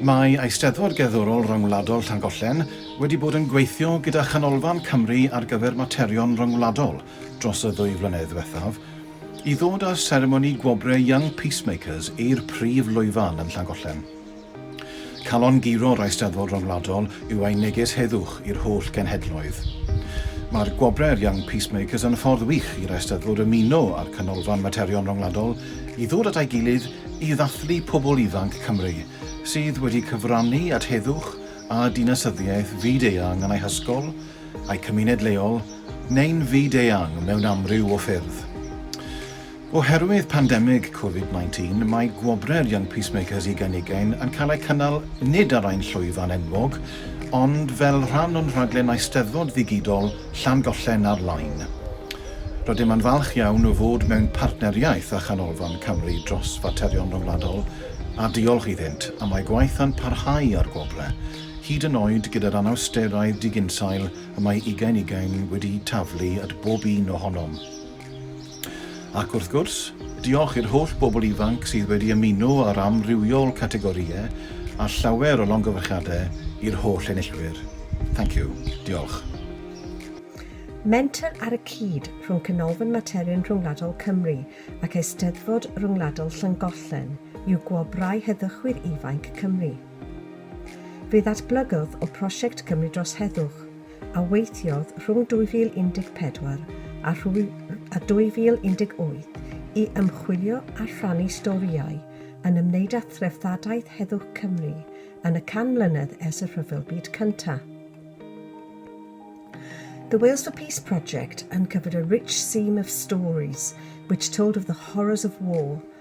Mae Eisteddfod Gerddorol Ryngwladol Llangollen wedi bod yn gweithio gyda Chanolfan Cymru ar gyfer Materion Ryngwladol dros y ddwy flynedd ddiwethaf i ddod â seremoni gwobrau Young Peacemakers i'r prif lwyfan yn Llangollen. Calon guro'r Eisteddfod Ryngwladol yw ein neges heddwch i'r holl genhedloedd. Mae'r gwobrau'r Young Peacemakers yn ffordd wych i'r Eisteddfod ymuno â'r Canolfan Materion Ryngwladol i ddod at ei gilydd i ddathlu pobl ifanc Cymru sydd wedi cyfrannu at heddwch a dinasyddiaeth fyd-eang yn eu hysgol, eu cymuned leol, neu'n fyd-eang mewn amryw o ffyrdd. Oherwydd pandemig Covid 19, mae Gwobrau'r Young Peacemakers ugain ugain yn cael eu cynnal nid ar ein llwyfan enwog, ond fel rhan o'n rhaglen Eisteddfod ddigidol Llangollen ar Line. Rydym yn falch iawn o fod mewn partneriaeth â Chanolfan Cymru dros Faterion Rhyngwladol a diolch iddynt am eu gwaith a'n parhau â'r Gwobrau, hyd yn oed gyda'r anawsterau diginsail y mae ugain ugain wedi taflu at bob un ohonom. Ac wrth gwrs, diolch i'r holl bobl ifanc sydd wedi ymuno ar amrywiol categorïau a llawer o longyfarchiadau i'r holl enillwyr. Thank you. Diolch. Menter ar y cyd rhwng Canolfan Materion Rhyngwladol Cymru ac Eisteddfod Ryngwladol Llangollen yw Gwobrau Heddychwyr Ifainc Cymru. Fe ddatblygodd o Prosiect Cymru Dros Heddwch, a weithiodd rhwng 2014 a 2018 i ymchwilio a rhannu storïau yn ymwneud â threftadaeth heddwch Cymru yn y 100 mlynedd ers y Rhyfel Byd Cyntaf. The Wales for Peace project uncovered a rich seam of stories which told of the horrors of war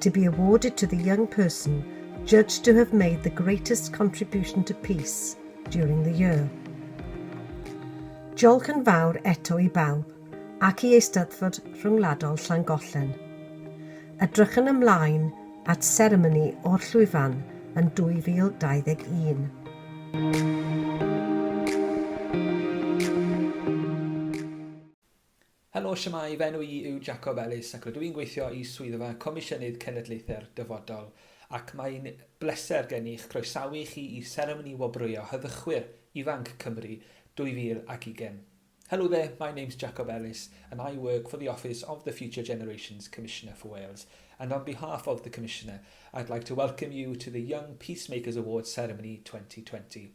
to be awarded to the young person judged to have made the greatest contribution to peace during the year. Diolch yn fawr eto i bawb ac i Eisteddfod Rhyngwladol Llangollen. Edrychwn ymlaen at seremoni o'r llwyfan yn 2021. Helo, shwmae, fy enw i yw Jacob Ellis ac rydw i'n gweithio i Swyddfa Comisiynydd Cenedlaethau'r Dyfodol ac mae'n bleser gen i'ch croesawu chi i seremoni wobrwyo Heddychwyr Ifanc Cymru 2020. Hello there, my name's Jacob Ellis and I work for the office of the Future Generations Commissioner for Wales and on behalf of the Commissioner I'd like to welcome you to the Young Peacemakers Awards Ceremony 2020.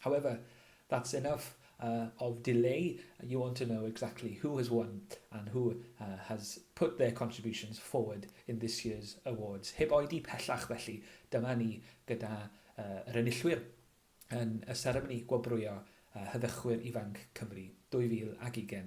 However, that's enough of delay, you want to know exactly who has won and who has put their contributions forward in this year's awards. Heb oedi pellach felly, dyma ni gyda yr enillwyr yn y seremoni gwobrwyo Heddychwyr Ifanc Cymru 2020.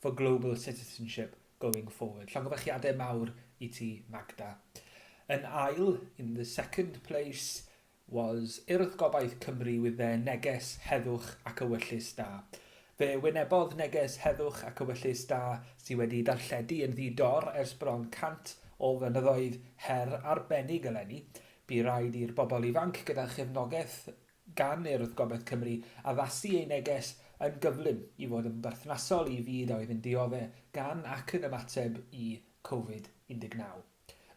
for global citizenship going forward. Llongyfarchiadau mawr i ti, Magda. Yn ail, in the second place, was Urdd Gobaith Cymru with their neges heddwch ac ewyllys da. Fe wynebodd neges heddwch ac ewyllys da sydd wedi darlledu yn ddi-dor ers bron 100 o flynyddoedd her arbennig eleni. Bu raid i'r bobl ifanc gyda chefnogaeth gan Urdd Gobaith Cymru addasu ei neges yn gyflym i fod yn berthnasol i fyd a oedd yn diodde' gan ac yn ymateb i Covid 19.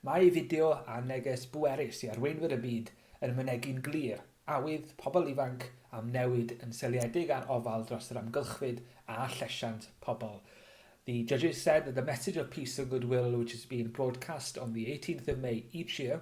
Mae ei fideo a neges bwerus i arweinwyr y byd yn mynegi'n glir awydd pobl ifanc am newid yn seiliedig ar ofal dros yr amgylchfyd a llesiant pobl. The judges said that the message of peace and goodwill which is being broadcast on the 18th of May each year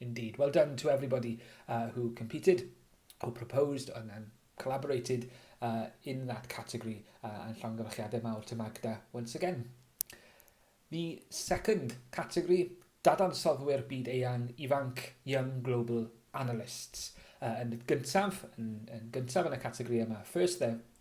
Indeed. Well done to everybody uh, who competed, who proposed and, and collaborated uh, in that category uh, and llongyfarchiadau mawr to Magda once again. The second category, dadansoddwyr byd eang ifanc, young global analysts. Uh, yn gyntaf, yn, yn gyntaf yn y categori yma, first there,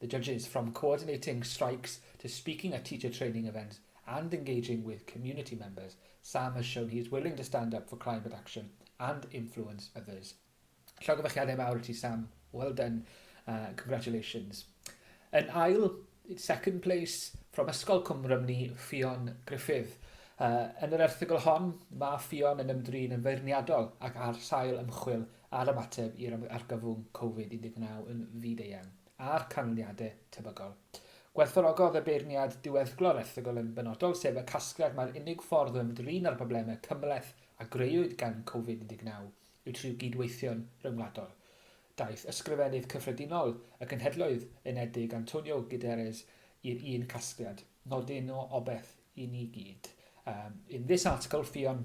The judges, from coordinating strikes to speaking at teacher training events and engaging with community members, Sam has shown he is willing to stand up for climate action and influence others. Llogyfychiadau mawr i ti Sam, well done, uh, congratulations. Yn ail, second place, from Ysgol Cwmrym ni, Ffion Griffith. Uh, yn yr erthygl hon, mae Ffion yn ymdrin yn feirniadol ac ar sail ymchwil ar ymateb i'r argyfwng Covid 19 yn fyd-eang a'r canlyniadau tebygol. Gwerthfawrogodd y beirniad diweddglo'r erthygl yn benodol, sef y casgliad mai'r unig ffordd o ymdrin â'r broblemau cymhleth a grëwyd gan Covid 19 yw trwy gydweithio'n ryngwladol. Daeth Ysgrifennydd Cyffredinol y Cenhedloedd Unedig Antonio Guterres i'r un casgliad, nodyn o obeth i ni gyd. Um, in this article, Ffion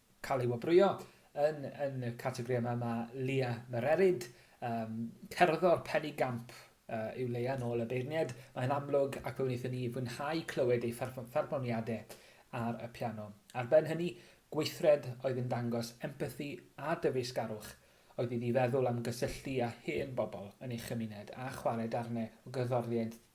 cael ei wobrwyo. Yn yn y categori yma mae Leah Mererid, um, cerddor Penny Gamp uh, yw Leia nôl y beirniaid. Mae'n amlwg ac fe wnaethon ni fwynhau clywed ei pherfformiadau ar y piano. Ar ben hynny, gweithred oedd yn dangos empathi a dyfeisgarwch oedd iddi feddwl am gysylltu â hen bobl yn ei chymuned a chwarae darnau o gerddoriaeth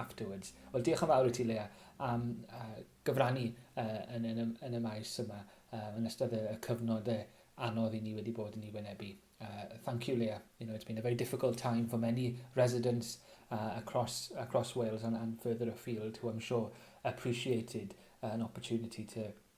Afterwards. Wel, diolch yn fawr i ti, Leah, am uh, gyfrannu uh, yn, yn, yn, y maes yma uh, yn ystod y, y cyfnod uh, anodd i ni wedi bod yn ei wynebu. Uh, thank you, Leah. You know, it's been a very difficult time for many residents uh, across, across Wales and, and further afield who I'm sure appreciated uh, an opportunity to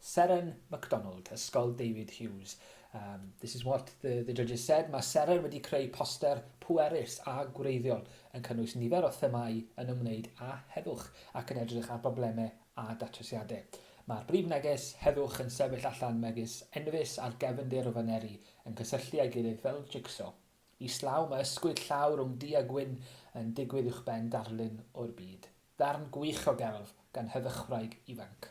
Seren McDonald, Ysgol David Hughes. Um, this is what the, the judges said. Mae Seren wedi creu poster pwerus a gwreiddiol yn cynnwys nifer o themâu yn ymwneud â heddwch ac yn edrych ar broblemau a datrysiadau. Mae'r brif neges heddwch yn sefyll allan megis enfys ar gefndir o faneri yn cysylltu â'i gilydd fel jigso. Islaw mae ysgwyd llaw rhwng du a gwyn yn digwydd uwchben darlun o'r byd. Darn gwych o gelf gan heddychwraig ifanc.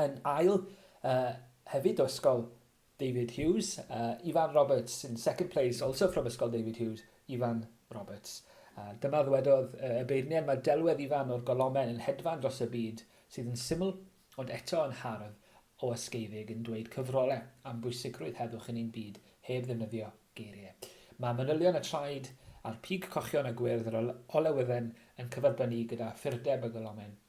Yn ail uh, hefyd o Ysgol David Hughes, uh, Ifan Roberts, in second place, also from Ysgol David Hughes, Ifan Roberts. Uh, dyma ddwedodd uh, y beirniad, mae delwedd Ifan o'r golomen yn hedfan dros y byd sydd yn syml ond eto yn hardd o ysgeifig yn dweud cyfrolau am bwysigrwydd heddwch yn ein byd heb ddefnyddio geiriau. Mae manylion y traed a'r pig cochion a gwyrdd yr olewydden yn cyferbynnu gyda ffurdeb y golomen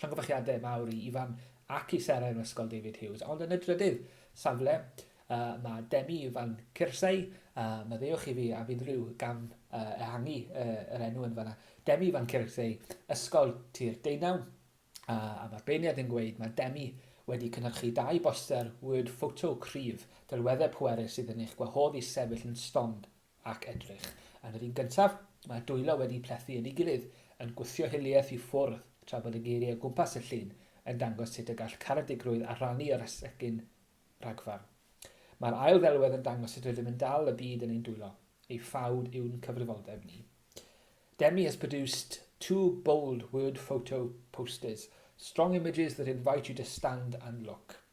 Llongyfarchiadau mawr i Ifan ac i Sarah yn Ysgol David Hughes. Ond yn y drydydd safle, uh, mae Demi Ifan Cyrsau, uh, maddeuwch i fi a fydd rhyw gam uh, ehangu uh, yr enw yn fanna. Demi Ifan Cyrsau, Ysgol Tir Deunaw, uh, a mae'r beirniad yn gweud mae Demi wedi cynhyrchu dau boster word photo cryf, delweddau pwerus sydd yn eich gwahodd i sefyll yn stond ac edrych. Yn yr un gyntaf, mae dwylo wedi plethu yn ei gilydd, yn gwthio hiliaeth i ffwrdd, tra bod y geiriau o gwmpas y llun yn dangos sut y gall caredigrwydd arannu ar esgyn rhagfarn. Mae'r ail ddelwedd yn dangos sut rydym yn dal y byd yn ein dwylo, ei ffawd yw'n cyfrifoldeb ni. Demi has produced two bold word photo posters, strong images that invite you to stand and look.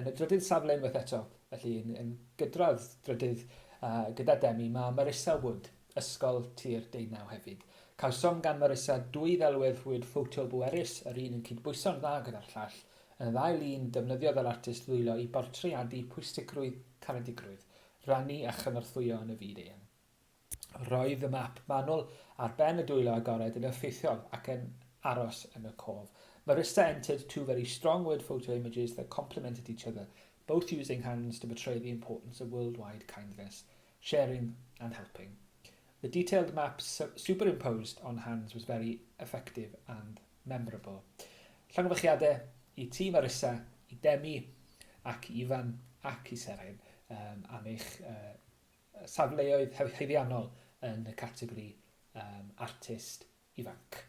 Yn y drydydd safle unwaith eto, felly yn, yn gydradd drydydd uh, gyda Demi, mae Marissa Wood, Ysgol Tir Deunaw hefyd. Cawsom gan Marissa dwy ddelwedd rhwyd ffoto bwerus, yr un yn cydbwyso'n dda gyda'r llall. Yn y ddau lun, defnyddiodd yr artist ddwylo i bortreadu pwysigrwydd caredigrwydd, rannu a chynorthwyo yn y fyd eang. Roedd y map manwl ar ben y dwylo agored yn effeithiol ac yn aros yn y cof. Marista entered two very strong word photo images that complemented each other, both using hands to portray the importance of worldwide kindness, sharing and helping. The detailed map superimposed on hands was very effective and memorable. Llongyfarchiadau i ti Marissa, i Demi ac i Ifan ac i Seren um, am eich uh, safleoedd haeddiannol yn y categori um, artist ifanc.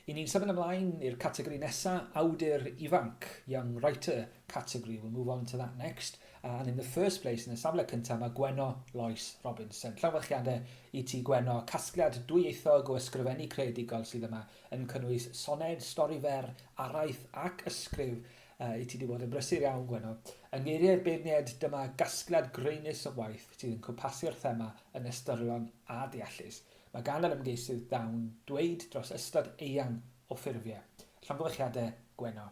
I ni'n symud ymlaen i'r categori nesa, awdur ifanc, young writer category. We'll move on to that next. Uh, and in the first place, yn y safle cyntaf, mae Gwenno Lois Robinson. Llawfyrchiadau i ti Gwenno, casgliad dwyieithog o ysgrifennu creadigol sydd yma yn cynnwys soned, stori fer, araith ac ysgrif A, i ti di bod yn brysur iawn, Gwenno. Yng ngeiriau'r beirniaid, dyma gasgliad graenus o waith sydd yn cwmpasio'r thema yn ystyrlon a deallus. Mae gan yr ymgeisydd dawn dweud dros ystod eang o ffurfiau. Llongyfarchiadau, Gwenno.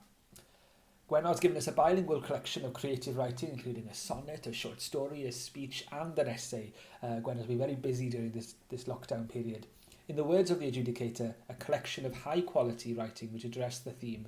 Gwenno has given us a bilingual collection of creative writing, including a sonnet, a short story, a speech, and an essay. Uh, Gwenno's been very busy during this, this lockdown period. In the words of the adjudicator, a collection of high quality writing which addressed the theme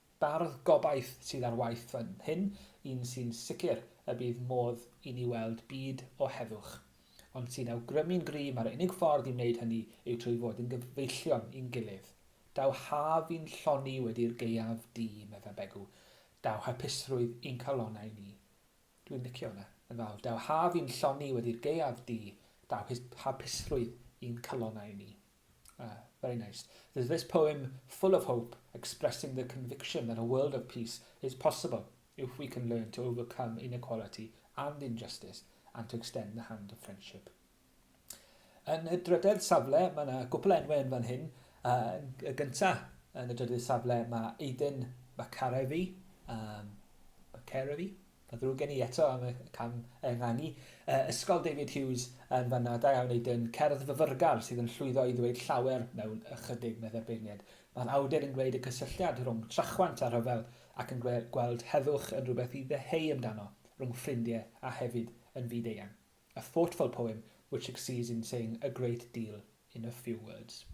Bardd gobaith sydd ar waith fan hyn, un sy'n sicr y bydd modd i ni weld byd o heddwch, ond sy'n awgrymu'n gryf mai'r unig ffordd i wneud hynny yw trwy fod yn gyfeillion i'n gilydd. Daw haf i'n lloni wedi'r gaeaf du, medda Begw. Daw hapusrwydd i'n calonnau ni. Dwi'n licio hwnna yn fawr. Daw haf i'n lloni wedi'r gaeaf du, daw hapusrwydd i'n calonnau ni. Ah, very nice. There's this poem full of hope, expressing the conviction that a world of peace is possible if we can learn to overcome inequality and injustice and to extend the hand of friendship. Yn y drydedd safle, mae yna gwpl enwau yn fan hyn. Uh, y gyntaf, yn y drydedd safle, mae Aiden Macarefi, um, Macarefi, Pa ddrwg gen i eto am y cam ehangu? Yy, Ysgol David Hughes yn fanna, da iawn Aidan. Cerdd fyfyrgar sydd yn llwyddo i ddweud llawer mewn ychydig, meddai'r beirniad. Mae'r awdur yn gwneud y cysylltiad rhwng trachwant a rhyfel ac yn gweld heddwch yn rhywbeth i ddeheu amdano, rhwng ffrindie a hefyd yn fyd eang. A thoughtful poem which succeeds in saying a great deal in a few words.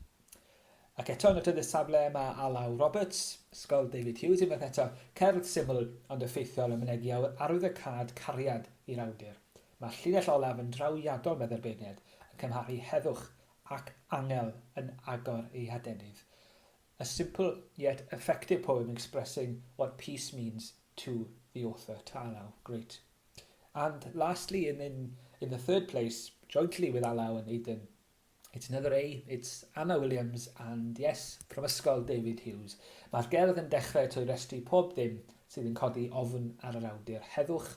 Ac eto yn y trydydd safle mae Alaw Roberts, Ysgol David Hughes unwaith eto, cerdd syml ond effeithiol a mynegi awyr arwyddocâd cariad i'r awdur. Mae'r llinell olaf yn drawiadol meddai'r beirniad, yn cymharu heddwch ac angel yn agor ei hadenydd. A simple yet effective poem expressing what peace means to the author, to Alaw. Great. And lastly in in in the third place jointly with Alaw and Aidan it's another A it's Anna Williams and yes Prifysgol David Hughes mae'r gerdd yn dechrau trwy restru pob dim sydd yn codi ofn ar yr awdur heddwch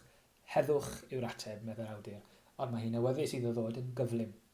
heddwch yw'r ateb meddai'r awdur ond mae hi'n awyddus iddo ddod yn gyflym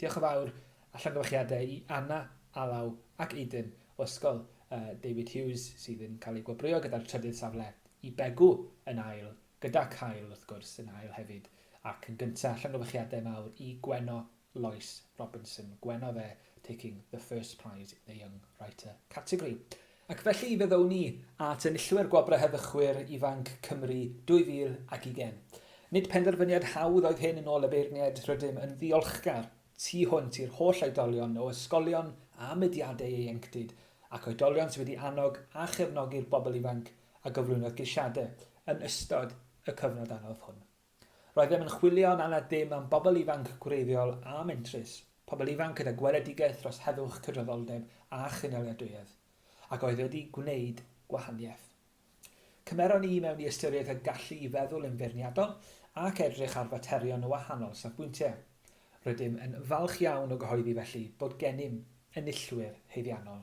Diolch yn fawr a llongyfarchiadau i Anna, Alaw ac Aiden o Ysgol uh, David Hughes sydd yn cael eu gwobrwyo gyda'r trydydd safle i Begw yn ail, gyda Cael wrth gwrs yn ail hefyd ac yn gyntaf llongyfarchiadau mawr i Gweno Lois Robinson, Gweno dde taking the first prize in the Young Writer category. Ac felly fe ddown ni at enillwyr Gwobrau Heddychwyr Ifanc Cymru 2020. Nid penderfyniad hawdd oedd hyn yn ôl y beirniaid, rydym yn ddiolchgar tu hwnt i'r holl oedolion o ysgolion a mudiadau ieuenctid ac oedolion sydd wedi annog a chefnogi'r bobl ifanc a gyflwynodd geisiadau yn ystod y cyfnod anodd hwn. Roeddem yn chwilio'n anad ddim am bobl ifanc gwreiddiol a mentrus, pobl ifanc gyda gweledigaeth dros heddwch, cydraddoldeb a chynaliadwyedd, ac oedd wedi gwneud gwahaniaeth. Cymeron ni mewn i ystyriaeth y gallu i feddwl yn feirniadol ac edrych ar faterion o wahanol safbwyntiau. Rydym yn falch iawn o gyhoeddi felly bod gennym enillwyr haeddiannol.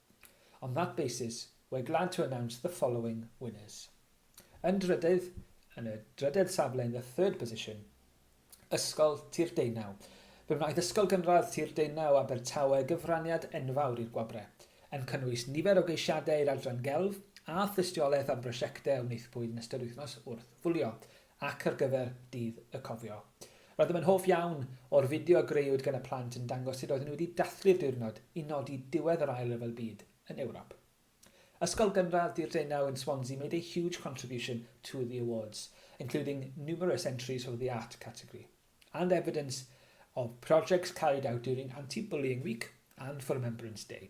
On that basis, we're glad to announce the following winners. Yn drydydd, yn y drydedd safle in the third position, Ysgol Tir Deunaw. Fe wnaeth Ysgol Gynradd Tir Deunaw Abertawe gyfraniad enfawr i'r gwobre, yn cynnwys nifer o geisiadau i'r Adran Gelf a Thystiolaeth am brosiectau a wnaethpwyd yn ystod wythnos wrth wylio ac ar gyfer Dydd y Cofio. Roeddem yn hoff iawn o'r fideo a grëwyd gan y plant yn dangos sut roedden nhw wedi dathlu'r diwrnod i nodi diwedd yr Ail Ryfel Byd yn Ewrop. Ysgol Gynradd Dy'r Deunaw in Swansea made a huge contribution to the awards, including numerous entries for the art category, and evidence of projects carried out during Anti-Bullying Week and for Remembrance Day.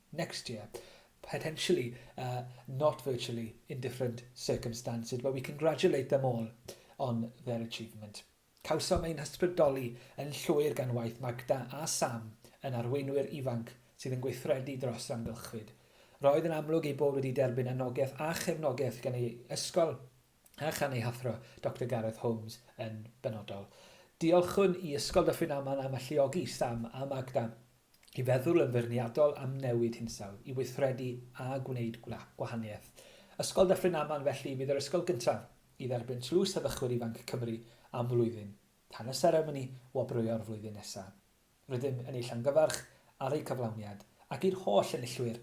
next year, potentially, uh, not virtually, in different circumstances, but we congratulate them all on their achievement. Cawsom ein hysbrydoli yn llwyr gan waith Magda a Sam yn arweinwyr ifanc sydd yn gweithredu dros amgylchfyd. Roedd yn amlwg ei bod wedi derbyn anogaeth a chefnogaeth gan ei ysgol a chan ei hathro, Dr Gareth Holmes, yn benodol. Diolchwn i Ysgol Dyffryn Aman am alluogi Sam a Magda i feddwl yn feirniadol am newid hinsawdd, i weithredu a gwneud gwahaniaeth. Ysgol Dyffryn Aman felly fydd yr ysgol gyntaf i dderbyn Tlws Heddychwyr Ifanc Cymru am flwyddyn, tan y seremoni wobrwyo'r flwyddyn nesaf. Rydym yn ei llongyfarch ar eu cyflawniad, ac i'r holl enillwyr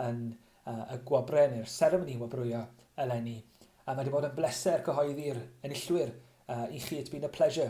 yn y gwobrau neu'r seremoni wobrwyo eleni. Mae wedi bod yn bleser cyhoeddi'r enillwyr i chi, it's been a pleasure.